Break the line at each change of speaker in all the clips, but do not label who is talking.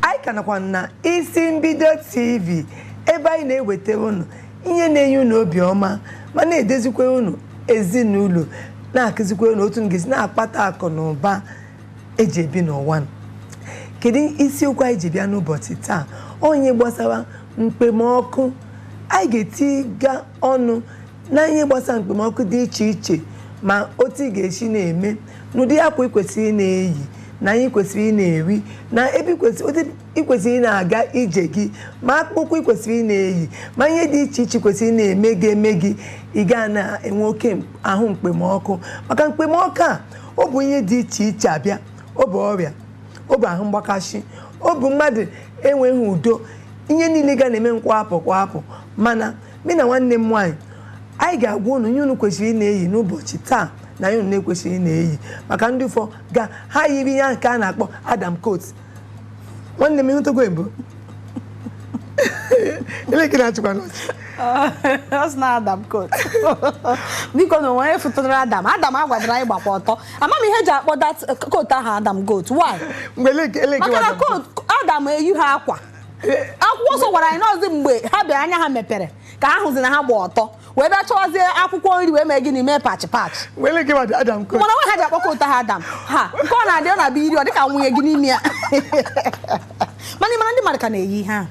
anyị ka nọkwa na isi mbido tv ebe anyị na-ewetara unu ihe na-enye unu obiọma ma na-edezikwara unu ezinụlọ na-akụzikwara unu otu unu ga-esi na-akpata akụ na ụba eji ebi n'ụwa kedu isiokwu anyị ji bịa n'ụbọchị taa ọ ihe gbasara mkpemọkụ anyị ga-etiga ọnụ na ihe gbasara mkpemọkụ dị iche iche ma otu ị ga-esi na-eme na ụdị akwa ị kwesịrị ị na-eyi na ihe ị kwesịrị ị na-eri na ebe ị kwesịrị- otu ị kwesịrị ị na-aga ije gị ma akpụkpọ ụkwụ ị kwesịrị ị na-eyi ma ihe dị iche iche ị kwesịrị ị na-eme ga-eme gị ị ga na-enwe oke m- ahụ mkpemọkụ maka mkpemọkụ a ọ bụ ihe dị iche iche abịa ọ bụ ọrịa ọ bụ ahụ mgbakasị ọ bụ mmadụ enweghị udo ihe niile ga na-eme nkwapụ kwapụ mana mụ na nwanne m nwaanyị anyị ga-agwa unu ihe unu kwesịrị ị na-eyi n'ụbọchị taa na ihe unu na-ekwesịrị ị na-eyi maka ndị ụfọ ga ha yiri ihe nke a a na-akpọ adam coat nwanne m ịhụtago mbụ elekere achịkwa n'ọchị ọ
sị na adam coat biko na onwe fụtara adam adam a gwara anyị gbakwa ọtọ ama m ihe eji akpọ that coat ahụ adam coat why mgbe eleke maka na coat adam eyiha akwa akwụkwọ nsọ gwara anyị na ọzi mgbe ha bịara anya ha mepere ka ha hụzi na ha gba ọtọ wee bịa chọwazie akwụkwọ nri wee mee gịnị mee patch patch
mana nwa ha
ji akpọ coat ahụ adam ha nke ọ na-adị ọ na-abịa iri ọ dịka nwunye gị n'ime ya mana ịmara ndị mmadụ ka na-eyi ihe ahụ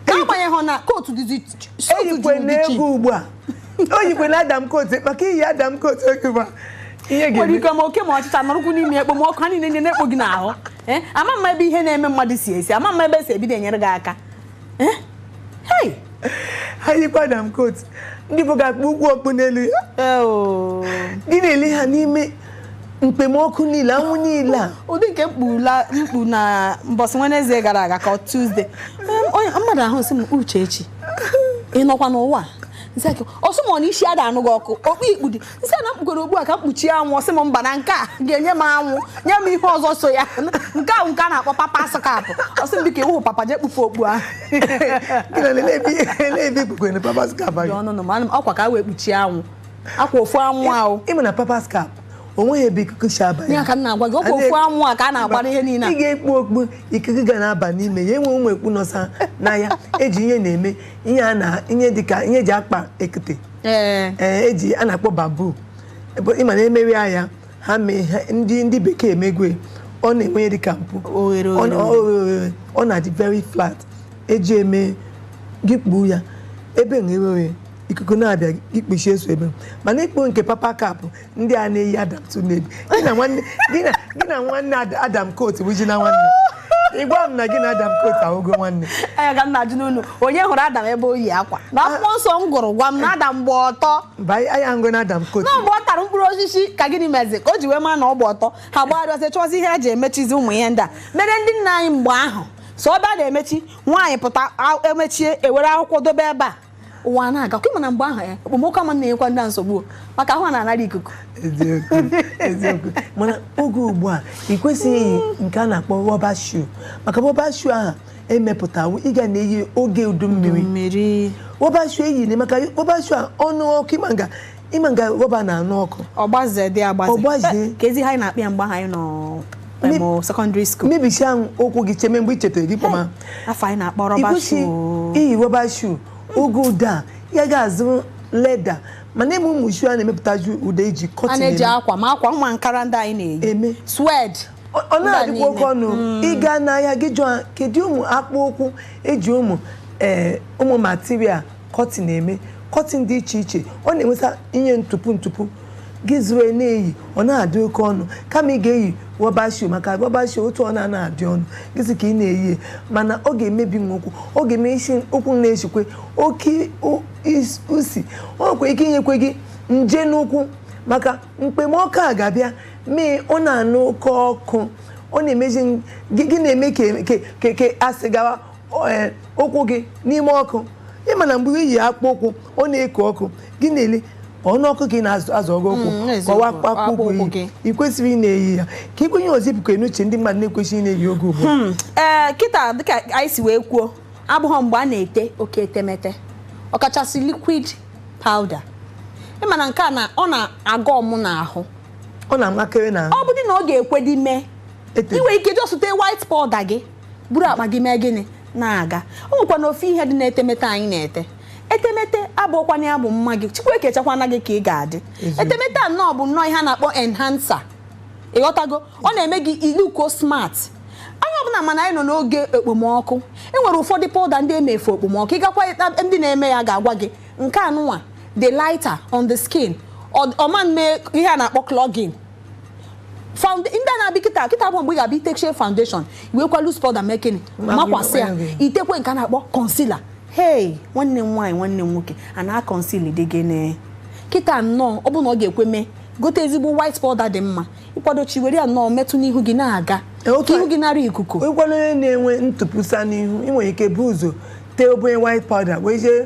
n'agbanyeghị na coat dịzi
eyikwe n'egwu ugbu a eyikwena adam coat maka i yi adam coat oge ugbu a ihe ga-eme nwere ike ma oke ma ọchịcha
nọrụkwu n'ime ekpomọkụ ha niile na-ekpo gị n'ahụ Eh, ama m ebe ihe na-eme mmadụ si esi ama m ebe esi ebido enyere gị aka eh?
ha yikwa adam coat ndị bụ ga-ekpukwu okpu n'elu ya eh, oh. gị na-ele ha n'ime mkpemọkụ niile anwụ niile a ụdị
nke m kpu na mbọsị wednesday gara aga ka tuesday mmadụ ahụ sị m uchechi ị nọkwa n'ụwa ọ sị m na isi ada anụ gị ọkụ okpu i kpu dị m sị na m kpugoro okpu a ka m kpuchie anwụ ọ sị m mba na nke a ga-enye m anwụ nye m ihe ọzọ so ya nke ahụ nke a na-akpọ papa's cap ọ sị m biko ị wụ papa jee kpufe okpu ahụ
ọkwa ka e wee
kpuchie anwụ ọkwa ofu anwụ ahụ ị ma na papa's
cap onweghị ebe ikuku si aba ya ka m na-agwa gị ọkwa
ofu anwụ a ka a na-agbara ihe niile ị ga-ekpu okpu
ikuku ga na-aba n'ime ya enwe ụmụ okpu nọsa n'ahịa eji ihe na-eme ihe dịka ihe eji akpa ekete ee ee eji a na-akpọ bamboo Ebe ị ma na emewe ya ya ha mee ha ndị ndị bekee emegwe ọ na-enwe ya dịka mpụ Oghere, Ọ na- oghere, ọ- oghere. ọ na-adị very flat eji eme gị kpuo ya ebe na ewewe ikuku na-abịa gị kpuchie so ebe mana i kpu nke papa cap ndị a na-eyi adam tụ n'ebi gị na nwanne gị na gị na nwanne Ad- adam coat bụ ji na nwanne ị gwa m na gị na adam coat ahụgo nwanne anya ka m na-ajụnụ
unu onye hụrụ adam ebe o yi akwa na akwụkwọ nsọ m gụrụ gwa m na adam gba ọtọ mba anyị anyị ahụgo na
adam coat na mgbe ọ tara mkpụrụ
osisi ka gịnị mezi ka o ji wee maa na ọ gba ọtọ ha gbagharịa chọzi ihe ha ji emechizi ụmụ ihe ndị a mere ndị nna anyị mgbe ahụ so ọ bịa na-emechi nwaanyị pụta a- emechie e were akwụkwọ dobe ebe a ụwa a na-aga kwa mana mgbe ahụ ya okpomọkụ ama na-enyekwa ndị a nsogbu o, maka ahụ ha na-anara ikuku eziokwu
eziokwu mana oge ugbu a ị kwesịghị iyi nke a na-akpọ rọba shoe maka rọba shoe ahụ emepụtawo ị ga na-eyi oge udu mmiri mmiri rọba shoe eyina maka rọba shoe a ọ nụ ọkụ ị ma nga ị ma nga rọba na-anụ ọkụ ọ gbaze dị
agbaze ọ gbaze ka ezi ha anyị na-akpọ ya mgbe anyị nọ secondary school mebisia ụkwụ gị
cheme mgbe i chetara gị kpọma afọ anyị na-akpọ rọba
shoe iyi rọba
shoe oge ụdị a ị ga-azụ leather mana e nwe ụmụ shoe a na-emepụtazi ụdị a e ji cotton a na-eji akwa ma
akwa nwa ankara ndị anyị na-eyi suede ọ na-adịkwa
oke ọnụ hmm. ị gaa n'ahịa gị jụọ kedu ụmụ akpụ ụkwụ e ji ụmụ eh, ụmụ material cotton eme cotton dị iche iche ọ na-enweta ihe ntụpụ ntụpụ gị zụrụ e na-eyi ọ na-adị oke ọnụ kama ị ga-eyi rọba shoe maka rọba shoe otu ọ na-ana adị ọnụ gịzi ka ị na-eyi mana ọ ga-emebi nwa ụkwụ ọ ga-emezi ụkwụ na-esikwe oke usi ọ nwekwa ike inyekwe gị nje n'ụkwụ maka mkpemọkụ a ga-abịa mee ọ na-anụ oke ọkụ ọ na-emezi gị na-eme ka a sị gawa o- ee, ụkwụ gị n'ime ọkụ ị ma na mgbe i yi akpụ ụkwụ ọ na-eko ọkụ gị na-ele ọnụ ọkụ gị na-azụ azụ ọgụ ụkwụ Mm, n'eziokwu, kọwa akpụ akpụ akpụ ụkwụ ụkwụ gị ị kwesịrị ị na-eyi ya ka i kwuo ihe ọzọ i bukwa n'uche ndị mmadụ na-ekwesịghị ị na-eyi oge ugbu a. ee kịta
dịka anyị si wee kwuo abụghọ mgbe a na-ete oke etemete ọkachasị liquid powder ị ma na nke a na ọ na-aga ọmụ n'ahụ ọ na-amakere na ọ
bụdị
na ọ ga-ekwedị mee Ete. i nwe ike just tee white powder gị buru akpa gị mee gịnị na-aga o nwekwa na ofu ihe dị n'etemete anyị na-ete etemete abụkwana ya bụ mma gị chukwu ekechakwana gị ka ị ga-adị etemete a nnọọ bụ nnọọ ihe a na-akpọ enhancer ị ghọtago ọ na-eme gị iluko smart onye ọbụla mana anyị nọ n'oge okpomọkụ e nwere ụfọdụ powder ndị e mere for okpomọkụ ị gakwa ndị na-eme ya ga-agwa gị nke anụnwa dị lighter on the skin ọ ma mee ihe a na-akpọ clogging ndị a na-abịa kịta kịta bụ mgbe ị ga-abịa itechie foundation iwekwa loose powder mee gịnị makwasị ya itekwe nke a na-akpọ concealer hey nwanne m nwaanyị nwanne m nwoke a na-akọnsili dị gịnị kịta nnọọ ọ bụ na ọ ga-ekwe mee gote ezigbo white powder dị mma ị kwadochaa were ya nnọọ metụ n'ihu gị na-aga ka ihu gị nara ikuku ịkwado onye na-enwe
ntụpụsa n'ihu ị nwere ike bu ụzọ tee obere white powder wee jee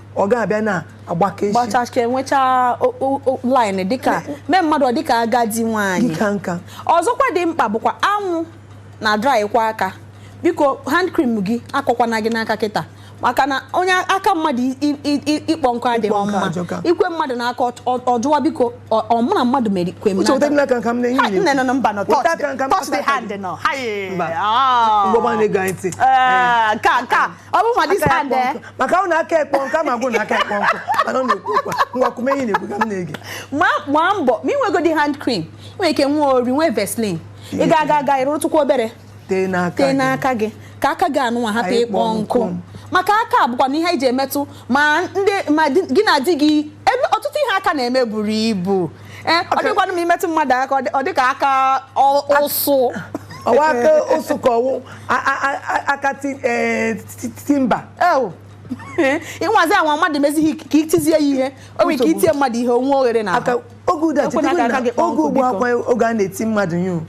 ọ ga-abịa na-agbaka echi gbachachka
enwechaa o- o- o- line dịka mee mmadụ ọ dịka agadi nwaanyị dịka
nka ọzọkwa dị mkpa
bụkwa anwụ na drykwa aka biko hand cream gị akọkwana gị n'aka kịta maka na onye aka mmadụ i- i- i- i- ịkpọ nkụ adịghị Ịkpọ nkụ mma ajọka. ikwe mmadụ n'aka ọ- ọ- ọ jụwa biko ọ- ọ mụ na mmadụ mere kwe m uche weta n'aka nka m na Ha, enyi
nne nọ na mba nọ Weta aka nka
m, touch the weta aka hand nọ ha Mba. Ah. mgbọgba na-ege anyị ntị Eh, nke a nke a ọ bụ ma this hand maka ọ na
aka ekpọ nkụ ma ọ bụ na aka ekpọ nkụ mana ọ na-ekwu okwu ngwa kwume ihe ị na-ekwu ka m na-ege gbaa mbọ
ma inwegodi hand cream i nwee ike nwee ori nwee Vaseline ị ga-aga aga ịrụtụkwa obere tee n'aka gị ka aka gị anụnwa hapụ ịkpọ nkụ maka aka bụkwanụ ihe iji emetụ ma gị na di gị ebe ọtụtụ ihe aka na-eme buru ibu Eh, ọ dịkwanụ ma imetụ mmadụ aka ọ dị ka aka ụsụ ọ wụ
aka ụsụ ka ọ wụ aka eh,
timber ịnwazi anwa mmadụ mezighị ka itizie ya ihe o nwere ike itie mmadụ ihe onwe oghere na aka oge
ụda oge ugbu a akwa oge a na-eti mmadụ ihe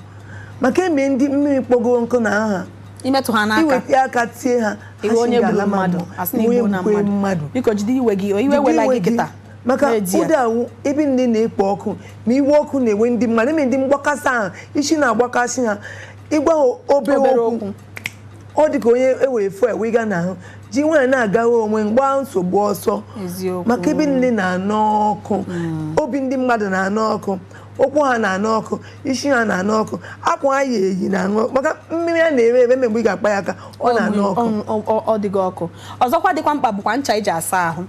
maka eme ndị mmiri kpọgo nkụ n'ahụ imetụ ha n'aka
iweta aka tie ha
ị wụ onye gburu mmadụ
asị na i gbuona mmadụ biko jide iwe gị iwe ewela gị kịta maka
ụdị ahụ ebe niine na-ekpo ọkụ ma iwe ọkụ na-ewe ndị mmadụ eme ndị mgbakasị ahụ isi na-agbakasị ha ịgwa ha obere okwu ọ dị ka onye ewere fuel wee gaa n'ahụ ji nwayọọ na-agara onwe gbaa nsogbu ọsọ maka ebe niine na-anụ ọkụ hmm. obi ndị mmadụ na-anụ ọkụ ụkwụ ha na-anụ ọkụ isi ha na-anụ ọkụ akwa ha yi eyi na-anụ ọkụ maka mmiri a na-ere ere mgbe ị ga-akpa ya aka ọ na-anụ ọkụ ọ dịghị ọkụ
ọzọkwa dịkwa mkpa bụkwa ncha iji asa ahụ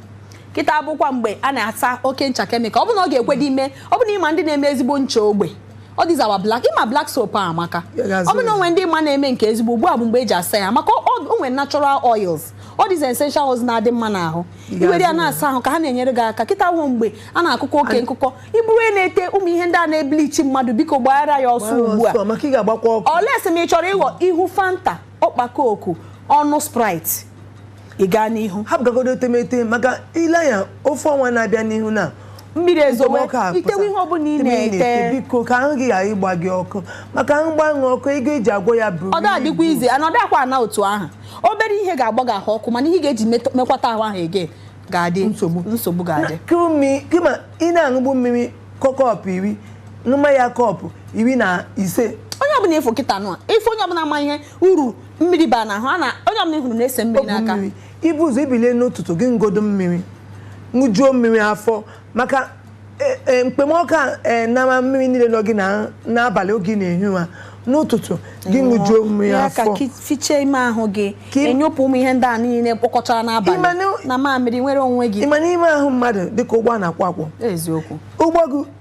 kịta abụkwa mgbe a na-asa oke ncha chemical ọ bụ na ọ ga-ekwe dị ime ọ bụ na ịma ndị na-eme ezigbo ncha ogbe ọ dịzawa black ịma black soap a amaka ọ bụ na onwe ndị ịma na-eme nke ezigbo ugbu a bụ mgbe eji asa ya maka onwe natural oils ọ dịzi essential oils na-adị mma n'ahụ iwere ya na-asa ahụ ka ha na-enyere gị aka kịta wụ mgbe a na-akụkọ oke nkụkọ ị bụrụ na-ete ụmụ ihe ndị a na-eblichi mmadụ biko gbaara ya ọsọ ugbu a unless ma ị chọrọ ịghọ ihu Fanta ọkpa Coke ọnụ Sprite ị gaa n'ihu hapụgagodo
etemete maka ile anya ofu ọnwa na-abịa n'ihu na mmiri
ezowe Okpomọkụ a itewe pụta. ihe ọbụla ị Ebe na-ete biko ka ahụ gị ghara
ịgba gị ọkụ maka ahụ gbaa gị ọkụ ego eji agwọ ya buru ọ dịkwa easy ana ọ
dịkwa ana otu ahụ obere ihe ga-agba gị ahụ ọkụ mana ihe ị ga-eji met- mekwata ahụ ahụ ege ga-adị Nsogbu. nsogbu ga-adị
kama ị na-aṅụbu mmiri kọ- cup iri ṅụma ya cup iri na ise onye ọbụla ị
fụ kịta nụ a, ị fụ onye ọbụla ma ihe uru mmiri ba na ahụ a na onye ọbụla ị hụrụ na-ese mmiri Ogwu n'aka mmiri i bu ụzọ i
bilie n'ụtụtụ gị ṅụgodu mmiri ṅụjuo mmiri afọ maka e- e, mkpemọkụ a e, nama mmiri niile nọ gị na- n'abalị oge ị na-ehi ụra n'ụtụtụ gị ṅụjuo mmiri ya ka afọ ki- fichaa
ime ahụ gị Ka im- ị nyụpụ ụmụ ihe ndị a niile kpọkọchara Ịma n'abalị na- na mamịrị nwere onwe gị ị ma na ime ahụ mmadụ
dịka ụgbọ a na-akwọ akwọ eziokwu ụgbọ
gị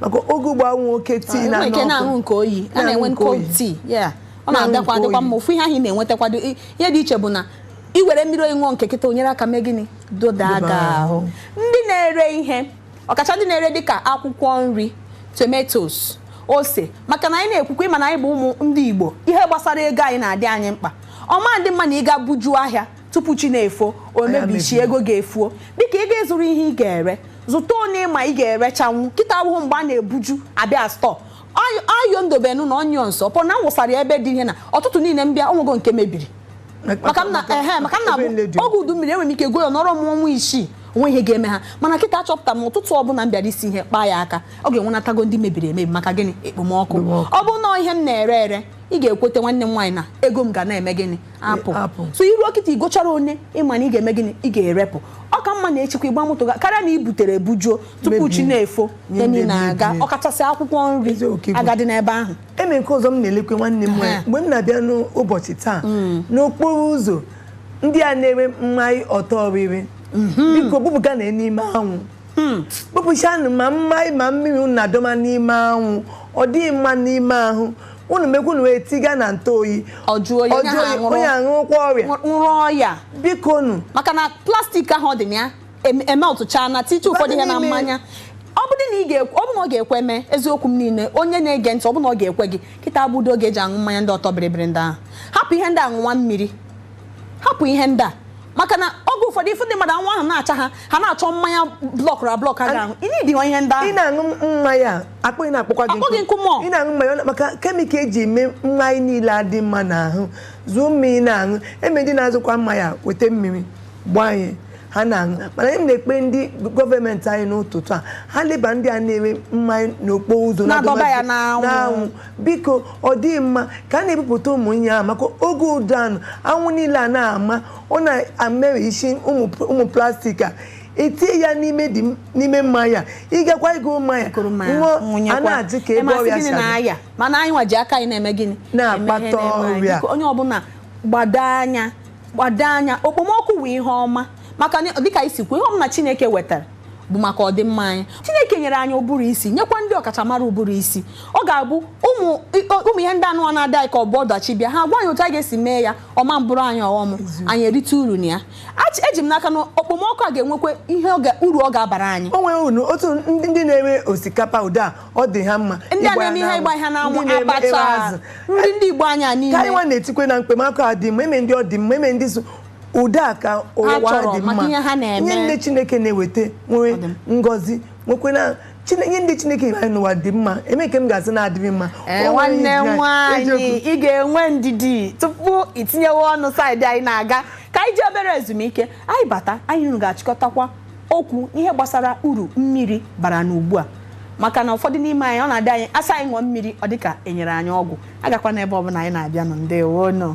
maka oge ugbo anwụ oke tii na nke na-aṅụ nke
oyi a na-enwe cold tea ọ na-adakwa adịkwa mma ofu ihe ahụ ị na-enwetakwado ihe dị iche bụ na ị were mmiri oyi ṅụọ nke kịta o nyere aka mee gịnị doda aga ahụ ndị na-ere ihe ọkacha ndị na-ere dịka akwụkwọ nri tomatoes ose maka na anyị na-ekwukwa ị ma na anyị bụ ụmụ ndị Igbo ihe gbasara ego anyị na-adị anyị mkpa ọ ma adị mma na ị ga bujuo ahịa tupu chi na-efo o mebichaa ego ga-efuo dịka ị ga-ezụrụ ihe ị ga-ere zụta one ị ma ị ga-erechanwu kịta awụhụ mgbe a na-ebuju abịa stọọ ayo ndobenu na onions pọ na wụsara ya ebe dị ihe na ụtụtụ niile m bịa o nwego nke mebiri maka ọ na-abụ oge udu mmiri enwere m ike goo ya ọ nọrọ m ọnwa isii o nwe ihe ga-eme ha mana kịta achọpụta m ụtụtụ ọbụla m bịara isi ihe kpaa ya aka ọ ga-enwenatago ndị mebiri emebi maka gịnị ekpomọkụ ọ bụ na ihe m na-ere ere ị ga-ekweta nwanne m nwaanyị na ego m ga na-eme gịnị apụ Apụ. so i ruo kịta i gochara one ị ma na ị ga-eme gịnị ị ga-erepụ ọ ka mma na echikwa ị gba moto ga karịa na i butere ebujuo tupu Mebie. chi na-efo Nye ya niile mebie. aga ọkachasị akwụkwọ nri Eziokwu ka ị bụ. agadị n'ebe ahụ eme nke ọzọ m na-elekwe
nwanne m nwanyị Ha. mgbe m na-abịa n'ụbọchị taa n'okporo ụzọ ndị a na-ere mmanya ọtọ ọrịrị biko bupụganụ n'ime anwụ bupụchanụ ma mmanya ma mmiri unu na-adọma n'ime anwụ ọ dịghị mma n'ime ahụ unu mekwu na wee tiga na ntụ oyi ọ jụọ oyi onye ahụ aṅụrụ onye aṅụrụkwa ọrịa ṅụrụ
ọya biko nụ
maka na plastik
ahụ ọ dị na ya em- emeltụcha na tiche ụfọdụ ihe na Bata n'ime. mmanya ọ bụrụ na ị ga-ekwe ọ bụrụ na ọ ga-ekwe mee eziokwu m niile onye na-ege ntị ọ bụrụ na ọ ga-ekwe gị kịta abụdo oge e ji aṅụ mmanya ndị ọtọ bịrịbịrị ndị ahụ hapụ ihe ndị a ṅụwa mmiri hapụ ihe ndị a maka na oge ụfọdụ ị fụ ndị mmadụ anwụ ahụ na-acha ha ha na-achọ mmanya blọkụrụ ablọk ha ga-aṅụ ị na-edi ha ihe ndị ahụ ị na-aṅụ mmanya
akpịrị na-akpọkwa gị akpọ gị nkụ ma ị na-aṅụ mmanya
maka
kemikal e ji eme mmanya niile adị mma n'ahụ zụọ mmiri na-aṅụ eme ndị na-azụkwa mmanya weta mmiri gbanye ha na-aṅụ mana anyị na-ekpe ndị gọọmenti anyị n'ụtụtụ a ha leba ndị a na-ere mmanya n'okporo ụzọ na-adọba ya n'anwụ biko ọ dịghị mma ka a na-ebupụta ụmụ ihe ahụ maka oge ụfọdụ anụ anwụ niile a na-ama ọ na-amịrị isi ụmụ plastik a etinye ya n'ime dị n'ime mmanya ị gakwa ịgo mmanya ṅụọ a na-ajụ kee ebe ọrịa si abịa mana
anyị nwa ji aka anyị na-eme gịnị na-akpata
ọrịa onye
ọbụla gbado anya gbado anya okpomọkụ wụ ihe ọma maka dịka i si kwuo ihe ọbụla Chineke wetara bụ maka ọdịmma anyị chineke nyere anyị ụbụrụ isi nyekwa ndị ọkachamara ụbụrụ isi ọ ga-abụ ụmụ ihe ndị ahụ na-adị anyị ka ọ bụ ọdachi bịa ha gwa anyị otu a ga-esi mee ya ọ ma bụrụ anyị ọghọm anyị erite uru na ya eji m n'aka na okpomọkụ a ga-enwekwa ihe uru ọ ga-abara anyị o nwere unu
otu ndị na-eme osikapa ụda ọ dị ha mma ndị a na-eme ihe ịgba ha
n'anwụ abacha nri ndị igbo anyị niile ka anyị nwa na-etikwa na
okpomọkụ adị mma enwe ndị ọ dị mma enwe ndị so ụdị a ka ụwa chọrọ dị mma maka ihe ha na-eme. ihe ndị chineke na-eweta nwee Ọ dị mma. ngọzi nwekwena Chine- ihe ndị chineke nyere anyị n'ụwa dị mma enwe nke m ga-asị na-adịghị mma Ee, O nwere nwanne ihe anyị-
nwaanyị eziokwu. ị ga-enwe ndidi tupu i tinyewe ọnụ saịdị anyị na-aga ka anyị ji obere ezumike anyị bata anyị unu ga-achịkọtakwa okwu ihe gbasara uru mmiri bara n'ugbu a maka na ụfọdụ n'ime anyị ọ na-adị anyị a sị anyị ṅụọ mmiri ọ dịka e nyere anyị ọgwụ agakwana ebe ọbụla anyị na-abịanụ ndewonụ